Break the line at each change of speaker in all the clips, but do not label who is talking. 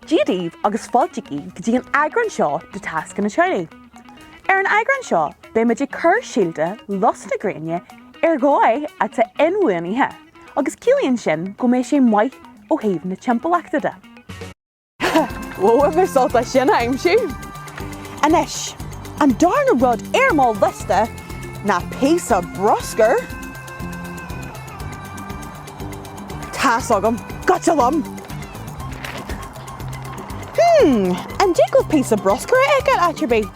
Dia daoibh agus fáiltigí go dtí an eagrán seo de Tascanna Charlie. Ar an eagrán seo beidh muid ag cur síolta lus na gréine ar dhóigh atá inbhuanaithe agus ciallaíonn sin go mbeidh sé maith ó thaobh na timpeallachta de. Bhuel, bhí sé furast sin a aimsiú! Anois, an darna rud ar mo liosta ná píosa bruscair! Tá's agam. Goitse liom! Hmm, an dtig libh píosa bruscair a fheiceáil áit ar bith?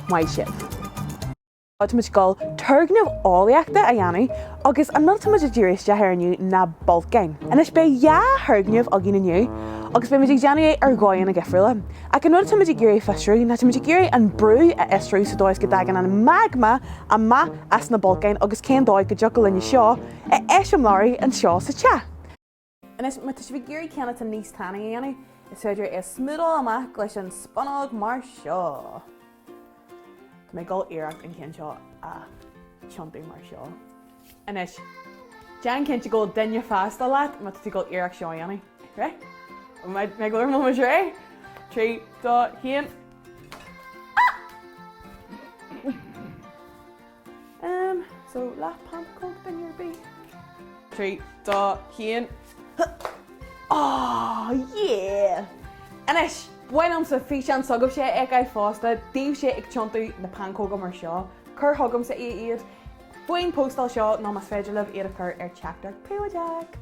Maith sibh! Tá muid ag dul turgnamh eolaíochta a dhéanamh agus an rud atá muid ag díriú isteach air inniu ná bolcáin. Anois beidh dhá thurgnamh againn inniu agus beidh muid ag déanamh é ar dhóigheanna difriúla. Ach an rud atáimid ag iarraidh fiosrú, ná táimid ag iarraidh an brú a fhiosrú sa dóigh is go dtagann an magma amach as na bolcáin agus cén dóigh go dtiocfadh linne seo a eiseamláiriú anseo sa teach. Anois, má tá sibh ag iarraidh ceann atá níos tanaí a dhéanamh, is féidir é a smúdáil amach leis an spunóg mar seo. Tá mé ag dul iarracht an ceann seo a tiontú mar seo. Anois, déan cinnte go bhfuil duine fásta leat má tá tú ag dul iarracht seo a dhéanamh. Right? Mé ag dul ar mo muis réidh? Trí, dó, haon. Umm so last pancóg in your bee. Trí, dó, haon. Aww yeah! Anois, ba mhaith liomsa físeán s'agaibhse a fheiceáil fosta daoibhse ag tiontú na pancóga mar seo. Cuir chugamsa í iad faoin phostáil seo nó más féidir libh iad a chur ar teachtaireacht príobháideach.